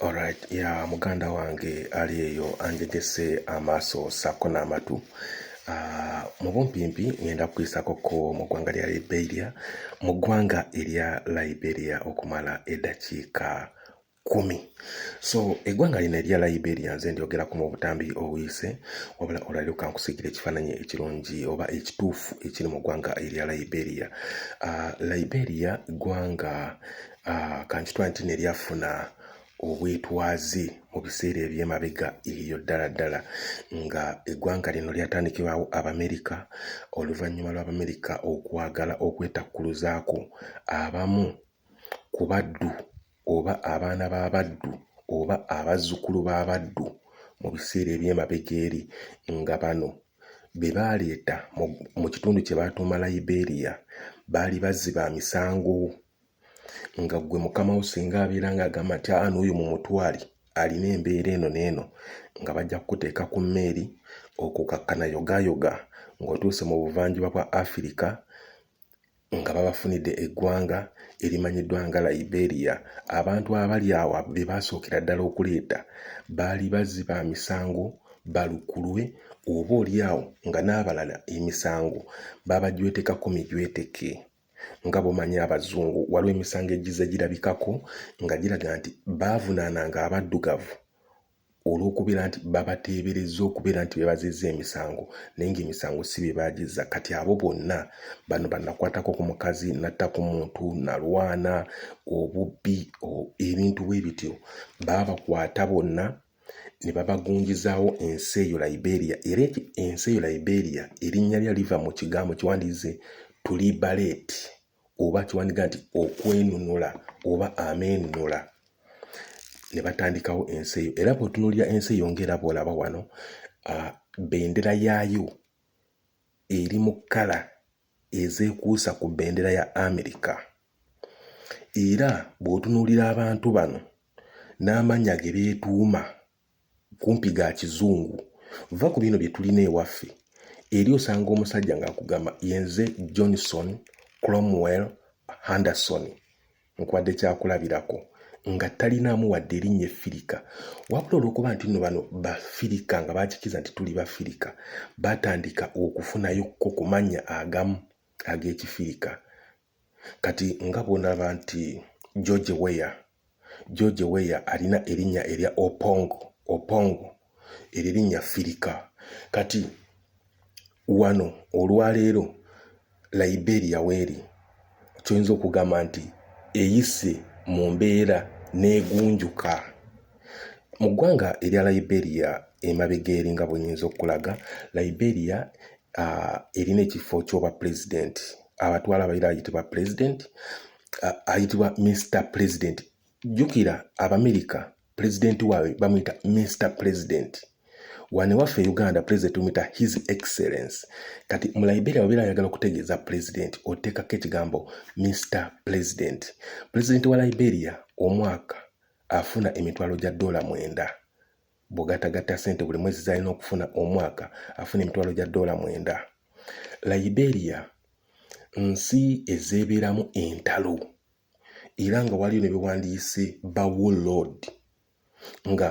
Alright, ya muganda wange ali eyo anjegese amaaso saako n'amatu ah, mu bumpimpi ngenda kukuyisako ko mu ggwanga lya liberia mu ggwanga erya liberia okumala eddakiika kumi so eggwanga lino erya liberia nze ndyogerako mu butambi obuyise wabula olwaliro kankusigira ekifaananyi ekirungi oba ekituufu ekiri mu ggwanga erya liberia uh, liberia ggwanga ah, kankitwa nti neryafuna obwetwaze mu biseera ebyemabega eyo ddala ddala nga eggwanga lino lyatandikibwawo abamerika oluvannyuma lw'abamerika okwagala okwetakkuluzaako abamu ku baddu oba abaana b'abaddu oba abazzukulu b'abaddu mu biseera ebyemabega eri nga bano be baaleeta mu kitundu kye baatuuma liberia baali bazzi ba misango nga gwe mukama wo singa abeera nga agamba nti aa n'oyo mu mutwali alina embeera eno n'eno nga bajja kukuteeka ku mmeeri okukakkana yogayoga ng'otuuse mu buvanjuba bwa afirika nga babafunidde eggwanga erimanyiddwa nga liberia abantu abali awo be baasookera ddala okuleeta baali bazzi ba misango balukulwe oba oli awo nga n'abalala emisango babajwetekako mijweteke nga bwomanyi abazungu waliwo emisango egize girabikako nga giraga nti baavunaananga abaddugavu olw'okubeera nti babateebereza okubeera nti bebazizza emisango naye ngaemisango si bye baagizza kati abo bonna bano banakwatako ku mukazi natta ku muntu nalwana obubbi ebintu bwe bityo baabakwata bonna ne babagunjizaawo ensi eyo liberia era eki ensi eyo liberia erinnya lya liva mu kigambo kiwandiize tulibaleti oba kiwandiga nti okwenunula oba ameenunula ne batandikawo ensi eyo era bwetunulira ensi eyo ngaera bwolaba wano uh, bendera yaayo eri mu kkala ezeekuusa ku bendera ya Amerika era bw'otunuulira abantu bano n'amannya ge beetuuma kumpi ga kizungu va ku bino bye tulina ewaffe eri osanga omusajja ng'akugamba yenze Johnson Cromwell Henderson nkuwadde kyakulabirako nga talinaamu wadde erinnya effirika wabula olwokuba nti nno bano bafirika nga bakikiza nti tuli bafirika batandika okufunayo ko ku mannya agamu ag'ekifirika kati nga bwonalaba nti george weya george weya alina erinnya erya opongo opongo eryo erinnya firika kati wano olwaleero liberia weeri kyoyinza okugamba nti eyise mu mbeera negunjuka mu ggwanga erya liberia emabega eri nga bwenyinza okulaga liberia uh, erina ekifo kyoba pulezidenti abatwala abaira ayitibwa pulezidenti uh, ayitibwa mr pulezidenti jjukira abamerika pulezidenti waabwe bamuyita mister president wano ewaffe e uganda pulezidenti tumuyita his excellence kati mu liberia wabeera ayagala okutegeeza pulezidenti oteekako ekigambo mister president pulezidenti wa liberia omwaka afuna emitwalo gya doola mwenda bw'ogatagatta ssente buli mwezi z'alina okufuna omwaka afuna emitwalo gya doola mwenda liberia nsi ezeebeeramu entalo era nga waliyo ne bewandiise bawo lord nga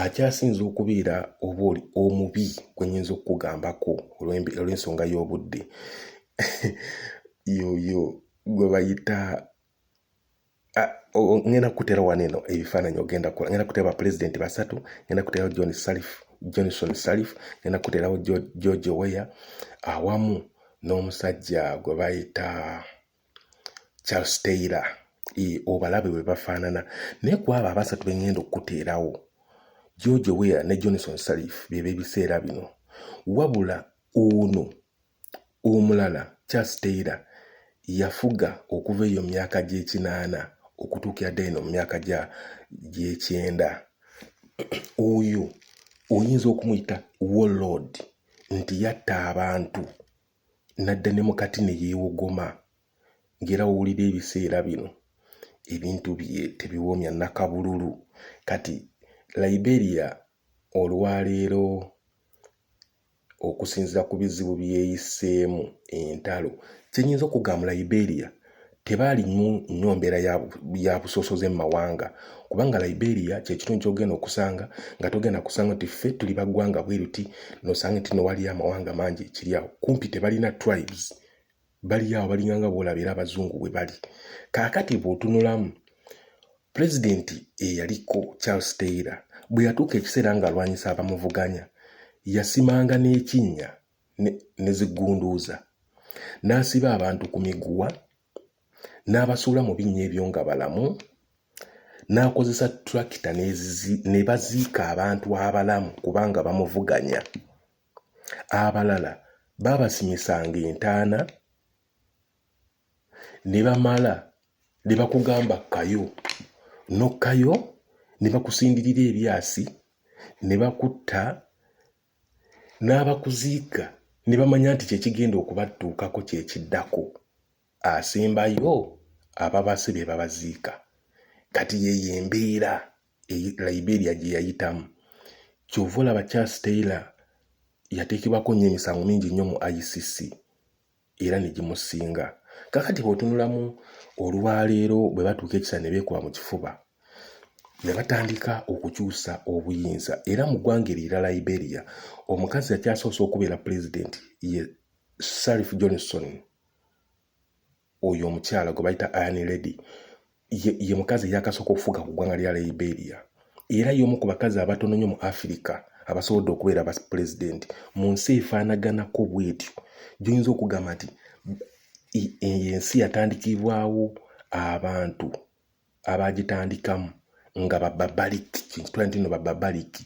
akyasinza okubeera oba oli omubi gwe nyinza okukugambako olw'ensonga y'obudde yoyo gwe bayita ngenda kukutera wano eno ebifaananyi ogenda kukola ngenda kutera bapulezidenti basatu ngenda kuterawo john salif johnson salif ngenda kuterawo george weya awamu n'omusajja gwe bayita charles taylor e, obalabe bwe bafaanana naye ku abo abasatu be ŋŋenda okukuteerawo george weir ne johnson salif bye b'ebiseera bino wabula ono omulala charles taylor yafuga okuva eyo mu myaka gy'ekinaana okutuukira ddala eno mu myaka gy'ekyenda oyo oyinza okumuyita warlord nti yatta abantu n'adda ne mukati ne yeewogoma ng'era wowulira ebiseera bino ebintu bye tebiwomya nakabululu kati liberia olwaleero okusinzira ku bizibu byeyiseemu entalo kyenyinza okugamba liberia tebaali nnyo mbeera ya busosoze mu mawanga kubanga liberia kyekitundu kyogenda okusanga nga togenda kusanga nti ffe tuli baggwanga bweruti nosanga nti nowaliyo amawanga mangi ekiri awo kumpi tebalina tribes bali awo balinganga boolaba era abazungu bwe bali kaakati bw'otunulamu pulezidenti eyaliko charles taylor bwe yatuuka ekiseera ng'alwanyisa abamuvuganya yasimanga n'ekinnya ne zigunduuza n'asiba abantu ku miguwa n'abasuula mu binnya ebyo nga balamu n'akozesa tulakita ne baziika abantu abalamu kubanga bamuvuganya abalala baabasimisanga entaana ne bamala ne bakugamba kayo n'okkayo ne bakusindirira ebyasi ne bakutta n'abakuziika ne bamanya nti kyekigenda okubatuukako kyekiddako asembayo ababase be babaziika kati yeyo embeera liberia gye yayitamu kyova olaba charles taylor yateekebwako nnyo emisango mingi nnyo mu icc era ne gimusinga kakati bw'otunulamu olwaleero bwe batuuka ekisa ne beekuba mu kifuba ne batandika okukyusa obuyinza era mu ggwanga erira liberia omukazi yakyasoose okubeera pulezidenti ye sarif johnson oyo omukyala gwe bayita iron lady ye, ye mukazi eyakasooka okufuga ku ggwanga lya liberia era y'omu ku bakazi abatono nnyo mu afirika abasobodde okubeera ba pulezidenti mu nsi efaanaganako bwetyo gyoyinza okugamba nti eyo ensi yatandikibwawo abantu abagitandikamu nga bababaliki kyentitula nti no bababaliki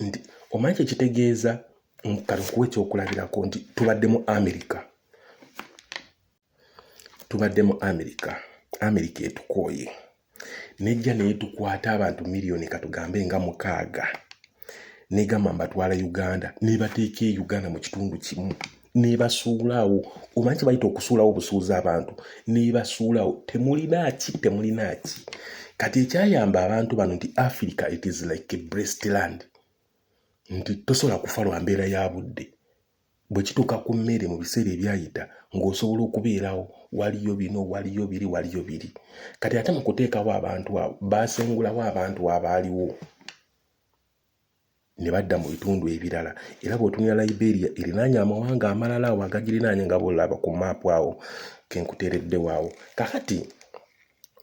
nti omanyi kyekitegeeza kati okuwa ekyokulabirako nti tubadde mu amerika tubadde mu amerika amerika etukooye nejja naye tukwata abantu miliyoni katugambe nga mukaaga negamba mbatwala uganda nebateeka e uganda mu kitundu kimu nebasuulawo omanyi kyebayita okusuulawo obusuuza abantu nebasuulawo temulinaki temulinaki kati ekyayamba abantu bano nti africa it is like a breast land nti tosobola kufa lwa mbeera ya budde bwe kituuka ku mmere mu biseera ebyayita ng'osobola okubeerawo waliyo bino waliyo biri waliyo biri kati ate mu kuteekawo abantu abo baasengulawo abantu abaaliwo ne badda mu bitundu ebirala era bw'otunira liberia erinaanya amawanga amalala awo agagirinaanya nga bwolaba ku maapu awo kenkuteereddewo awo kakati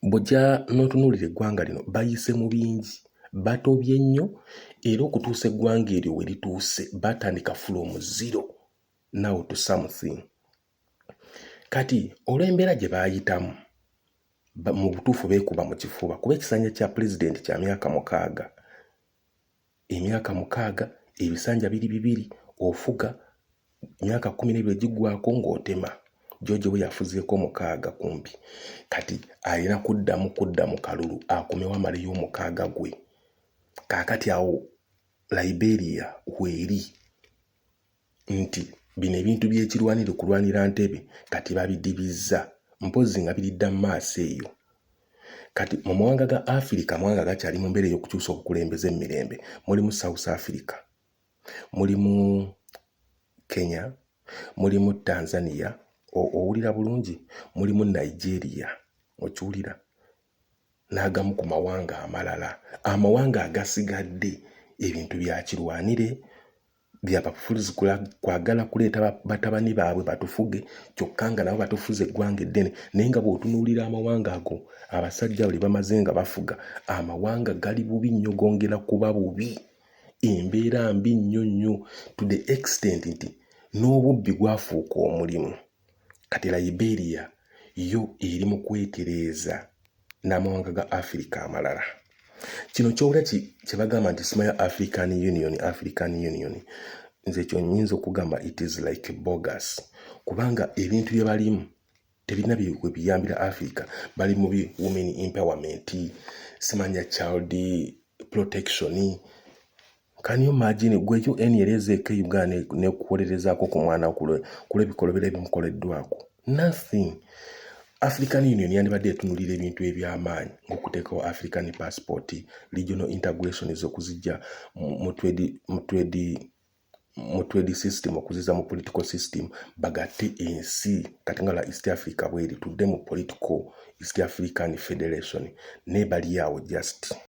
Bw'ojja n'otunuulira eggwanga lino bayise mu bingi, batobye nnyo era okutuusa eggwanga eryo we lituuse baatandika from zero now to something. Kati olw'embeera gye baayitamu mu butuufu beekuba mu kifuba kuba ekisanja kya pulezidenti kya myaka mukaaga. emyaka mukaaga ebisanja biri bibiri ofuga myaka kumi nebiri gigwako ng'otema jojo we yafuzeeko mukaaga kumpi kati alina kuddamu kudda mu kalulu akomewo amaleyo omukaaga gwe kaakati awo liberia weeri nti bino ebintu byekirwanire kulwanira ntebe kati babidibizza mpozzi nga biridda mu maaso eyo kati mu mawanga ga afirika amawanga gakyali mu mbeera ey'okukyusa obukulembeze mu mirembe mulimu south africa mulimu kenya mulimu tanzania owulira bulungi mulimu nigeria okiwulira n'agamu ku mawanga amalala amawanga agasigadde ebintu byakirwanire byabafuzi kwagala kuleeta batabani baabwe batufuge kyokka nga nabo batufuza eggwanga eddene naye nga bw'otunuulira amawanga ago abasajja abo lye bamaze nga bafuga amawanga gali bubi nnyo gongera kuba bubi embeera mbi nnyo nnyo to the extent nti n'obubbi gwafuuka omulimu kati liberia yo eri mu kwetereeza n'amawanga ga africa amalala kino kyowula kye bagamba nti sima ya african union african union nze ekyo nyinza okugamba it is like bogus kubanga ebintu bye balimu tebirina byewe biyambira africa bali mu bi women empowerment simanya child protection Can you imagine gwe UN yali ezeeko e Uganda nekuwolerezaako ku mwana kulwebikolobero ebimukoleddwako nothing African Union yandibadde etunulira ebintu ebyamaanyi ngaokuteekawo African passport regional integration ezokuzijja mu trade system okuziza mu political system bagatte ensi kati nga la East Africa bweri tudde mu political East African Federation naye bali awo just